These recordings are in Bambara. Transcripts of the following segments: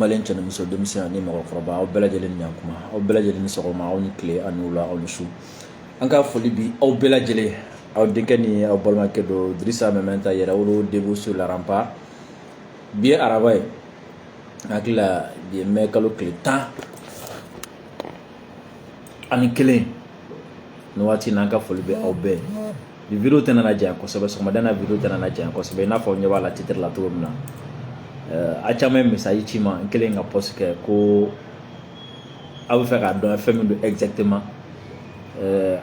maliyɛn cɛ ni muso denmisɛn ani mɔgɔkɔrɔba aw bɛɛ lajɛlen ni kuma aw bɛɛ lajɛlen ni sɔgɔma aw ni tile ani wula aw ni su an ka foli bi aw bɛɛ lajɛlen aw denkɛ ni aw balimakɛ don Drissa Meminta yɛrɛwolo debout sur les remparts bi ye araba ye hakili la bi ye mɛ kalo tile tan ani kelen nin waati n'an ka foli bɛ aw bɛɛ ye video tɛna na janya kosɛbɛ sɔgɔmada na video tɛna na janya kosɛbɛ i n'a fɔ ɲɛ b'a la titre la cogo min na a caman ye message ci n ma n kɛlen ka post kɛ ko aw bɛ fɛ k'a dɔn fɛn min don exactement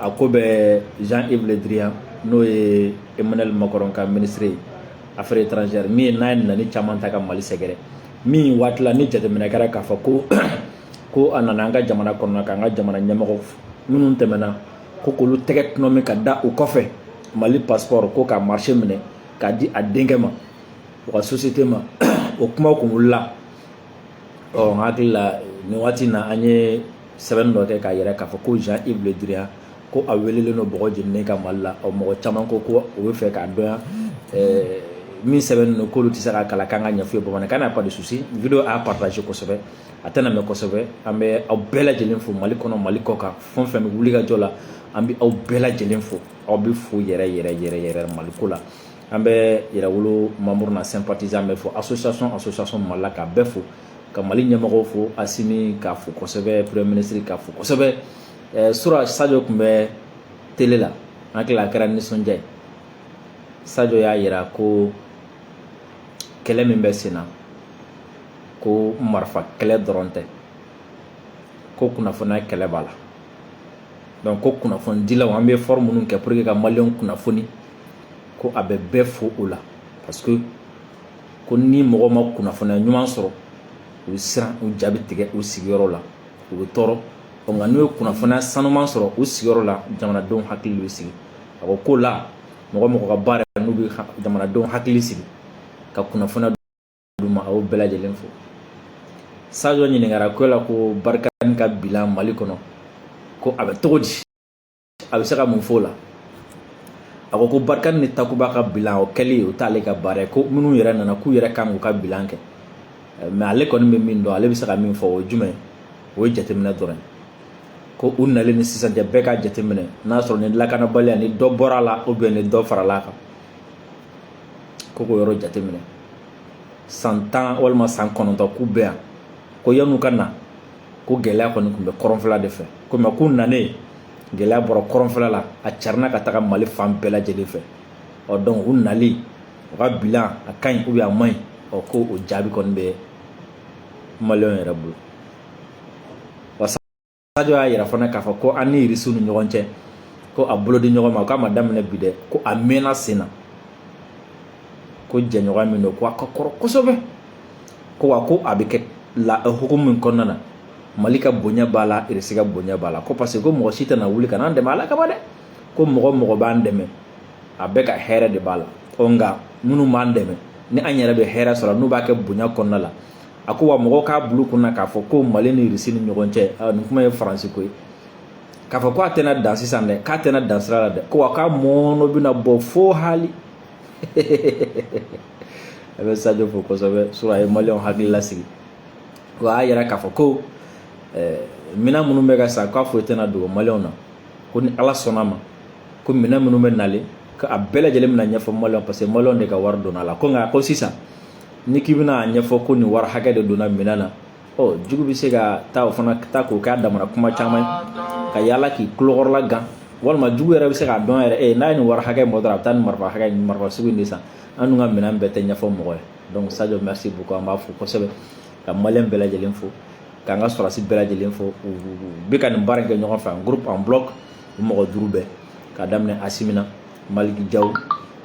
a ko bɛ Jean Yves Le Drian n'o ye Emmanuel Macron ka ministre ye affaires étrangères min ye n'a ye nɛni caman ta ka Mali sɛgɛrɛ min waati la ni jateminɛ kɛra k'a fɔ ko ko a nana an ka jamana kɔnɔna k'an ka jamana ɲɛmɔgɔ minnu tɛmɛna ko k'olu tɛgɛ tɔnɔmi ka da u kɔfɛ mali passeport ko ka marché minɛ k'a di a denkɛ ma u ka société ma o kuma kun wulila ɔ n hakili la nin waati na an ye sɛbɛnni dɔ kɛ k'a yira k'a fɔ ko Jean Yves Le Drian ko a welelen don bɔgɔ jeninen kan mali la ɔ mɔgɔ caman ko ko u b'a fɛ k'a dɔn fɛn min sɛbɛnnen don k'olu tɛ se k'a kalan k'an k'a ɲɛfɔ u ye bamanankan na pas de souci video a partager kosɛbɛ a tɛna mɛn kosɛbɛ an bɛ aw bɛɛ lajɛlen fo mali kɔnɔ mali kɔ kan fɛn o fɛn bɛ wulikajɔ la an bɛ aw bɛɛ lajɛlen fo aw bɛɛ fo yɛrɛ yɛrɛ yɛrɛ yɛrɛ mali ko la an bɛ yɛrɛwolo membre n'a sympathisant bɛɛ fo association association mali la k'a bɛɛ fo ka mali ɲɛmɔgɔw fo asimi k'a fo kosɛbɛ premier ministre k'a fo kosɛbɛ eh, sura sajo tun bɛ tele la an hakili la a kɛra nisɔndiya ye sajo y'a yira ko kɛlɛ min bɛ sen na ko marifa kɛlɛ dɔrɔn tɛ ko kunnafoniya kɛlɛ b'a la donc ko kunnafonidilaw an bɛ effort minnu kɛ pour que ka maliyɛnw kunnafoni ko a bɛ bɛɛ fo o la parce que ko ni mɔgɔ ma kunnafoniya ɲuman sɔrɔ u bɛ siran u ja bɛ tigɛ u sigiyɔrɔ la u bɛ tɔɔrɔ nka n'u ye kunnafoniya sanuman sɔrɔ u sigiyɔrɔ la jamanadenw hakili bɛ sigi a ko o la mɔgɔ o mɔgɔ ka baara n'u bɛ jamanadenw hakili sigi ka kunnafoniya olu ma aw bɛɛ lajɛlen fo sajo ɲininkara ko la ko Barkhane ka bilan mali kɔnɔ ko a bɛ cogo di a bɛ se ka mun fɔ o la a ko ko Barkhane ni takuba ka bilan o kɛli o t'ale ka baara ye ko minnu yɛrɛ nana k'u yɛrɛ kan k'u ka bilan kɛ mɛ ale kɔni bɛ min dɔn ale bɛ se ka min fɔ o ye jumɛn o ye jateminɛ dɔrɔn ye ko u nalen ni sisan cɛ bɛɛ k'a jateminɛ n'a y'a sɔrɔ ni lakanabaliya ni dɔ bɔra a la ou bien ni dɔ farala a kan ko k'o yɔrɔ jateminɛ san tan walima san kɔnɔntɔn k'u bɛ yan ko yan'u ka na ko gɛlɛya kɔni tun bɛ kɔrɔnfɛla de fɛ ko mais k'u nanen gɛlɛya bɔra kɔrɔnfɛla la a carinna ka taga mali fan bɛɛ lajɛlen fɛ ɔ donc u nali u ka bilan a ka ɲi ou bien a man ɲi ɔ ko o jaabi kɔni bɛ maliyɛnw yɛrɛ bolo sajo y'a yira fana k'a fɔ ko an ni irisi ni ɲɔgɔn cɛ ko a bolo di ɲɔgɔn ma k'a ma daminɛ bi dɛ ko a mɛnna sen na ko jɛɲɔgɔn min don ko a ka kɔrɔ kosɛbɛ ko wa ko a bɛ kɛ la hukumu min kɔnɔna na mali ka bonya b'a la irisi ka bonya b'a la ko parce que ko mɔgɔ si tɛna wuli ka n'an dɛmɛ ala kama dɛ ko mɔgɔ mɔgɔ b'an dɛmɛ a bɛɛ ka hɛrɛ de b'a la ɔ nka minnu b'an dɛmɛ ni an yɛrɛ bɛ hɛrɛ sɔrɔ n'u b'a kɛ bonya kɔnɔna la a ko wa mɔgɔw k'a bil'u kun na k'a fɔ ko mali ni irisi ni ɲɔgɔn cɛ ah, nin kuma ye faransi ko ye k'a fɔ ko a tɛna dan sisan dɛ k'a tɛna dan sira la dɛ ko wa k'a mɔɔnɔ bɛna bɔ fo hali an bɛ sajo fo kosɛbɛ sɔrɔ a ye maliyɛnw hakili lasigi ko a y'a yira k'a fɔ ko eh, minɛn minnu bɛ ka san k'a foyi tɛna dogo maliyɛnw na ko ni ala sɔnn'a ma ko minɛn minnu bɛ nalen ko a bɛɛ lajɛlen bɛna ɲɛfɔ maliyɛnw parce que maliyɛnw de ka wari donna a la ko nka ko sisan ni k'i bɛna ɲɛfɔ ko nin wari hakɛ de donna minɛn na ɔ jugu bɛ se ka taa o fana ta k'o k'a damana kuma caman ye ka yaala k'i tulokɔrɔla gan walima jugu yɛrɛ bɛ se k'a dɔn yɛrɛ e n'a ye nin wari hakɛ mɔtɔ a bɛ taa nin marifa hakɛ nin marifa sugu in de san an dun ka minɛn bɛɛ tɛ ɲɛfɔ mɔgɔ ye donc sadio merci beaucoup an b'a fo kosɛbɛ ka maliyɛn bɛɛ lajɛlen fo k'an ka sɔrɔdasi bɛɛ lajɛlen fo u bɛ ka nin baara in kɛ ɲɔgɔn fɛ en groupe en bloc mɔgɔ duuru bɛɛ k'a daminɛ asimi na maliki jaw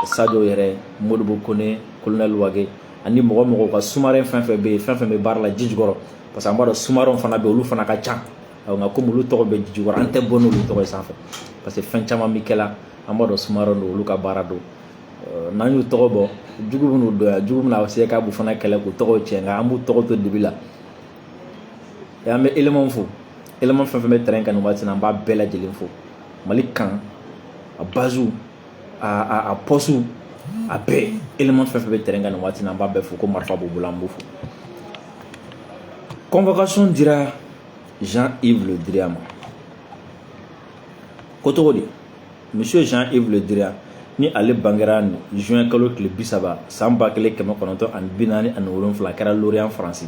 sajo yɛrɛ modibo kone kolonɛli wage ani mɔgɔ mɔgɔ ka sumaren fɛn fɛn bɛ yen fɛn fɛn bɛ baara la ji jukɔrɔ parce que an b'a dɔn sumarenw fana bɛ olu fana ka ca nka komi olu tɔgɔ bɛ ji jukɔrɔ an tɛ bɔ n'olu tɔgɔ ye sanfɛ parce que fɛn caman bɛ kɛ la an b'a dɔn sumaren don olu ka baara don n'an y'u tɔgɔ bɔ jugu bɛn'u dɔn yan jugu bɛna se k'a b'u fana kɛlɛ k'u tɔgɔw tiɲɛ nka an b'u tɔgɔ to dibi la an bɛ elemanw fo eleman fɛn fɛn bɛ tɛrɛn kan nin waati in na an b'a bɛɛ lajɛlen fo mali kan a base a poste a bɛɛ eleman fɛn fɛn bɛ tɛrɛn kan nin waati na an b'a bɛɛ fo ko marifa b'u bolo an b'u fo convocation dira jean yves le drian ma ko cogo di monsieur jean yves le drian ni ale bangera juin kalo tile bi saba san ba kelen kɛmɛ kɔnɔntɔn ani bi naani ani wolonfila a kɛra lorient faransi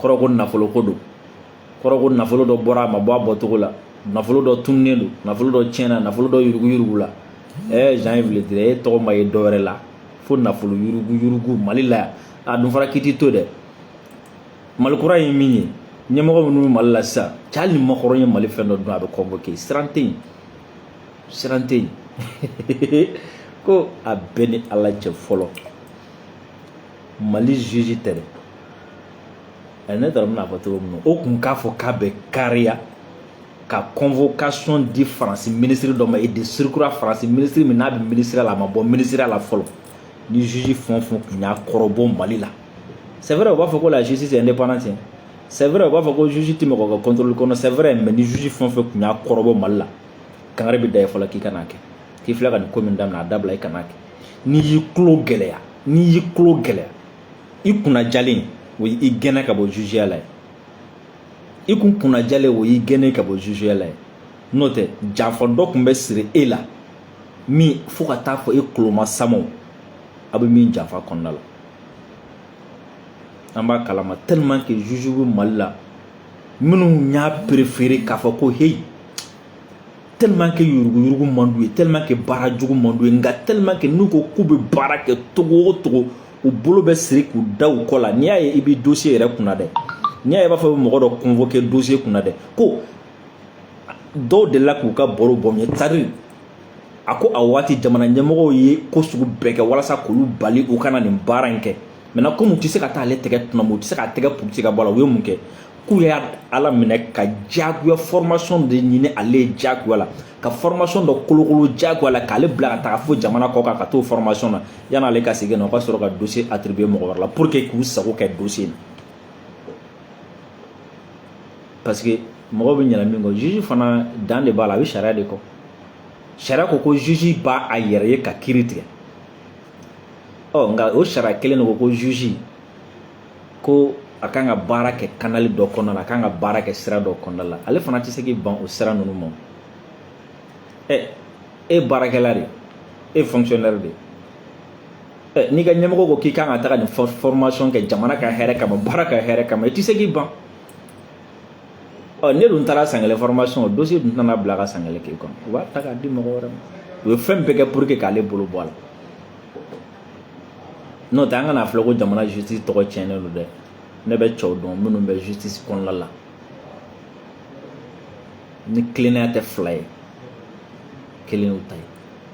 kɔrɔ ko nafolo ko don kɔrɔ ko nafolo dɔ bɔra a ma bɔ a bɔcogo la nafolo dɔ tununnen don nafolo dɔ tiɲɛna nafolo dɔ yuruguyurugula ɛɛ jean yves le drian tɔgɔ ma ye dɔ wɛrɛ la fo nafolo yuruguyurugu mali la yan a dun fara kiti to dɛ mali kura ye min ye ɲɛmɔgɔ minnu bɛ mali la sisan hali ni macron ye mali fɛn dɔ dun a bɛ convoquer siran tɛ yen siran tɛ yen ko a bɛɛ ni ala cɛ fɔlɔ mali juge tɛ dɛ ɛ ne taara bɛna fɔ cogo min na o tun k'a fɔ k'a bɛ kariya ka convocation di faransi minisiri dɔ ma et de surcroît faransi minisiri min n'a bɛ minisiriya la a ma bɔ minisiriya la fɔlɔ ni juge fɛn o fɛn tun y'a kɔrɔbɔ mali la c'est vrai u b'a fɔ ko la justice est indépendante c'est vrai u b'a fɔ ko juge tɛ mɔgɔ ka contrôle kɔnɔ c'est vrai mais ni juge fɛn o fɛn tun y'a kɔrɔbɔ mali la kangari bɛ da i ye fɔlɔ k'i kan'a kɛ k'i filɛ ka nin ko min daminɛ a dabila i kan'a kɛ n'i y'i tulo gɛlɛya n'i y'i tulo gɛlɛya i kunna jalen o y'i gɛnɛ ka bɔ jugeya la ye i kun kunna jalen o y'i gɛnɛ ka bɔ jugeya la ye n'o tɛ janfa dɔ tun bɛ siri e la min fo ka taa fɔ e kuloma samaw a bɛ min janfa kɔnɔna la an b'a kalama tellement que juge bɛ mali la minnu y'a préféré k'a fɔ ko heyi tellement que yuruguyurugu man d'u ye tellement que baara jugu man d'u ye nka tellement que n'u ko k'u bɛ baara kɛ cogo o cogo u bolo bɛ siri k'u da u kɔ la n'i y'a ye i b'i dossier yɛrɛ kunna dɛ n'i y'a ye i b'a fɔ i bɛ mɔgɔ dɔ convoquer dossier kunna dɛ ko dɔw delila k'u ka baro bɔ min ye tari a ko a waati jamana ɲɛmɔgɔw ye ko sugu bɛɛ kɛ walasa k'olu bali u kana nin baara in kɛ maintenant komi u tɛ se ka taa ale tɛgɛ tunama u tɛ se k'a tɛgɛ puruti ka bɔ a la u ye mun kɛ k'u y'ale minɛ ka jagoya formation de ɲini ale ye jagoya la ka formation dɔ kolokolo jagoya la k'ale bila ka taga fo jamana kɔ kan ka t'o formation na yan'ale ka segin na o ka sɔrɔ ka dossier attribuer mɔgɔ wɛrɛ la pour que k'u sago kɛ dossier na parce que mɔgɔ bɛ ɲina min kɔ juge fana dan de b'a la a bɛ sariya de kɔ sariya ko ko juge b'a yɛrɛ ye ka kiiri tigɛ ɔ nka o sariya kelen de ko ko juge ko a kan ka baara kɛ kanali dɔ kɔnɔna la a kan ka baara kɛ sira dɔ kɔnɔna la ale fana tɛ se k'i ban o sira ninnu ma ɛ e baarakɛla de e fonctionnaire de ɛ n'i ka ɲɛmɔgɔ ko k'i kan ka taga nin formation kɛ jamana ka hɛrɛ kama baara ka hɛrɛ kama i tɛ se k'i ban ɔ n'e dun taara san kelen formation dossier dun tɛna bila ka san kelen k'e kɔnɔ u b'a ta k'a di mɔgɔ wɛrɛ ma u ye fɛn bɛɛ kɛ pour que k'ale bolo bɔ a la n'o tɛ an kana filɛ ko jamana justice tɔgɔ tiɲɛnen don dɛ ne bɛ cɛw dɔn minnu bɛ justice kɔnɔna la ni tilennenya tɛ fila ye kelen y'u ta ye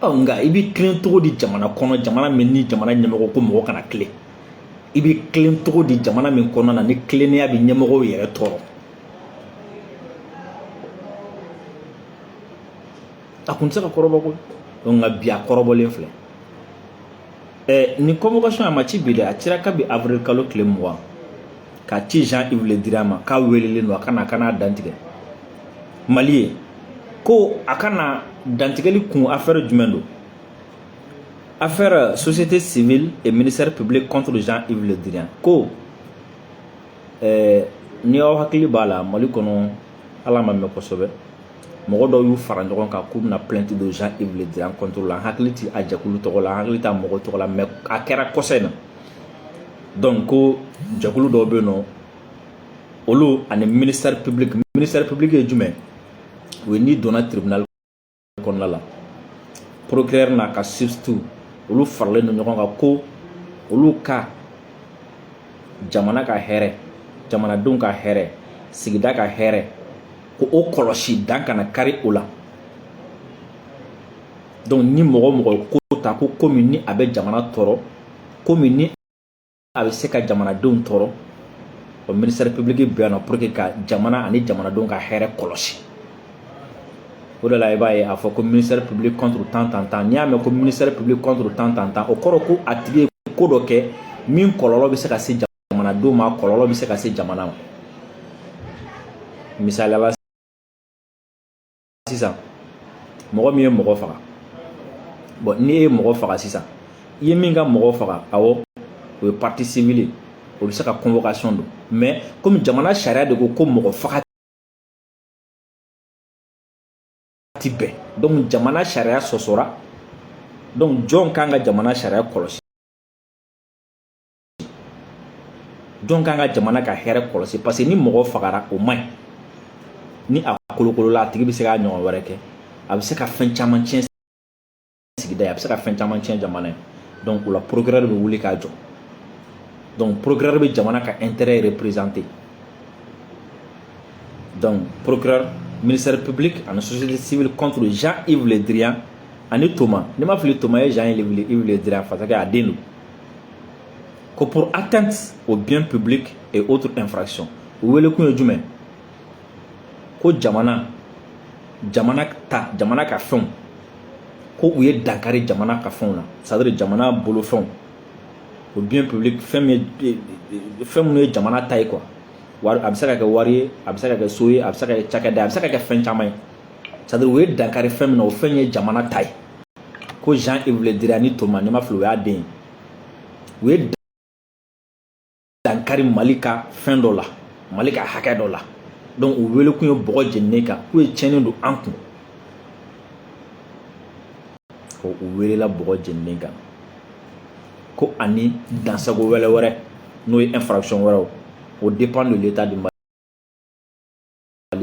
ɔ nka i bɛ tilen cogo di jamana kɔnɔ jamana min ni jamana ɲɛmɔgɔ ko mɔgɔ kana tilen i bɛ tilen cogo di jamana min kɔnɔna na ni tilennenya bɛ ɲɛmɔgɔw yɛrɛ tɔɔrɔ a kun tɛ se ka kɔrɔbɔ ko nka bi a kɔrɔbɔlen filɛ ɛ nin convocation a ma ci bi dɛ a cira kabi avril kalo tile mugan ka ci jean yves le drian ma k'a welelen don a ka na a ka na dantigɛ mali ye ko a ka na dantigɛli kun affaire jumɛn don affaire société civile et ministère public contre jean yves le drian ko ɛɛ ni aw hakili b'a la mali kɔnɔ a ma mɛn kosɛbɛ mɔgɔ dɔw y'u fara ɲɔgɔn kan k'u bɛna plainte don Jean Yves Le Drian contre la n hakili tɛ a jɛkulu tɔgɔ la n hakili t'a mɔgɔ tɔgɔ la mais a kɛra kɔsa in na donc ko jɛkulu dɔw bɛ yen nɔ olu ani ministère public ministère public ye jumɛnw ye n'i donna tribunal kɔnɔna la procureur n'a ka substitut olu faralen don ɲɔgɔn kan ko olu ka jamana ka hɛrɛ jamanadenw ka hɛrɛ sigida ka hɛrɛ k'o kɔlɔsi dan kana kari o la donc ni mɔgɔ o mɔgɔ ko ta ko ko min ni a bɛ jamana tɔɔrɔ ko min ni a bɛ se ka jamanadenw tɔɔrɔ o ministère public bɛ yan nɔ pour que ka jamana ani jamanadenw ka hɛrɛ kɔlɔsi o de la i b'a ye a fɔ ko ministère public contre tan tan tan n'i y'a mɛn ko ministère public contre tan tan tan o kɔrɔ ko a tigi ye ko dɔ kɛ min kɔlɔlɔ bɛ se ka se jamana jamanadenw ma kɔlɔlɔ bɛ se ka se jamana ma misali la sisan mɔgɔ min ye mɔgɔ faga bon n'i ye mɔgɔ faga sisan i ye min ka mɔgɔ faga awɔ o ye partie civile ye o bɛ se ka convocation don mais komi jamana sariya de ko ko mɔgɔ faga ti bɛn donc jamana sariya sɔsɔra donc jɔn kan ka jamana sariya kɔlɔsi jɔn kan ka jamana ka hɛrɛ kɔlɔsi parce que ni mɔgɔ fagara o man ɲi ni a kolokolola a tigi bɛ se k'a ɲɔgɔn wɛrɛ kɛ a bɛ se ka fɛn caman tiɲɛ sigida ye a bɛ se ka fɛn caman tiɲɛ jamana ye donc o la procureur bɛ wuli k'a jɔ donc procureur bɛ jamana ka intérêt représenter donc procureur ministère public ani société civile contre Jean-Yves Le Drian ani Thomas ni n ma fili Thomas ye Jean-Yves Le Drian parce que a den don ko pour atteinte au bien public et autres infractions u wele kun ye jumɛn ko jamana jamana ta jamana ka fɛnw ko u ye dankari jamana ka fɛnw na c'est à dire jamana bolofɛnw o bien public fɛn min ye fɛn minnu ye jamana ta ye quoi wari a bɛ se ka kɛ wari ye a bɛ se ka kɛ so ye a bɛ se ka kɛ cakɛda ye a bɛ se ka kɛ fɛn caman ye c'est à dire u ye dankari fɛn min na o fɛn ye jamana ta ye ko Jean Yves Le Drian ni Toma ni n ma fili o y'a den ye u ye dankari Mali ka fɛn dɔ la Mali ka hakɛ dɔ la donc u wele kun ye bɔgɔ jeninen kan k'u ye tiɲɛni don an kun ko u welela bɔgɔ jeninen kan ko ani dansago wɛlɛ wɛrɛ n'o ye infraction wɛrɛw aux dépens de l'état du Mali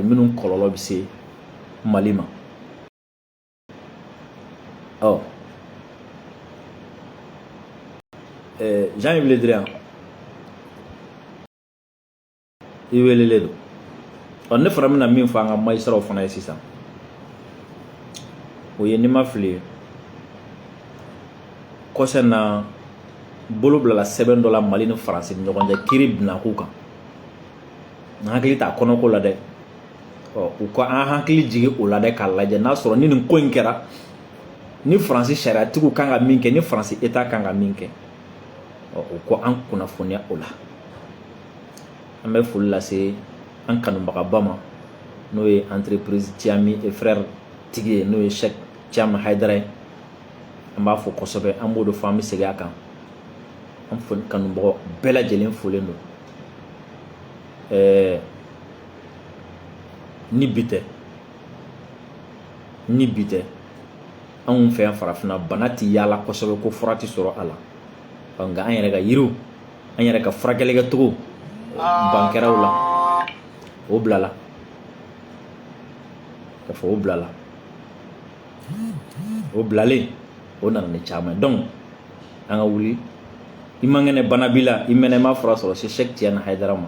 minnu kɔlɔlɔ bɛ se Mali ma ɔ ɛɛ Jean Yves Le Drian i welelen don ɔ ne fana bɛna min fɔ an ka magistratw fana ye sisan o ye ni n ma fili kosɛ na bolo bilala sɛbɛn dɔ la mali ni faransi ni ɲɔgɔn cɛ kiri binakun kan n hakili t'a kɔnɔko la dɛ u ka an hakili jigin o la dɛ k'a lajɛ n'a sɔrɔ ni nin ko in kɛra ni faransi sariyatigiw kan ka min kɛ ni faransi état kan ka min kɛ u ka an kunnafoniya o la an bɛ foli lase an kanubagaba ma n'o ye entreprise tiami et frère tigi ye n'o ye Cheick tiami haidara ye an b'a fo kosɛbɛ an b'o de fɔ an bɛ segin a kan an kanubagaw bɛɛ lajɛlen folen don ɛɛ ni bi tɛ ni bi tɛ anw fɛ yan farafinna bana tɛ yaala kosɛbɛ ko fura tɛ sɔrɔ a la nka an yɛrɛ ka yiriw an yɛrɛ ka furakɛli kɛcogo ban kɛra u la o bilala ka fɔ o bilala o bilalen o nana ni caman ye donc an ka wuli i man kɛnɛ bana b'i la i mɛnna i ma fura sɔrɔ se sɛki tiyani hayidara ma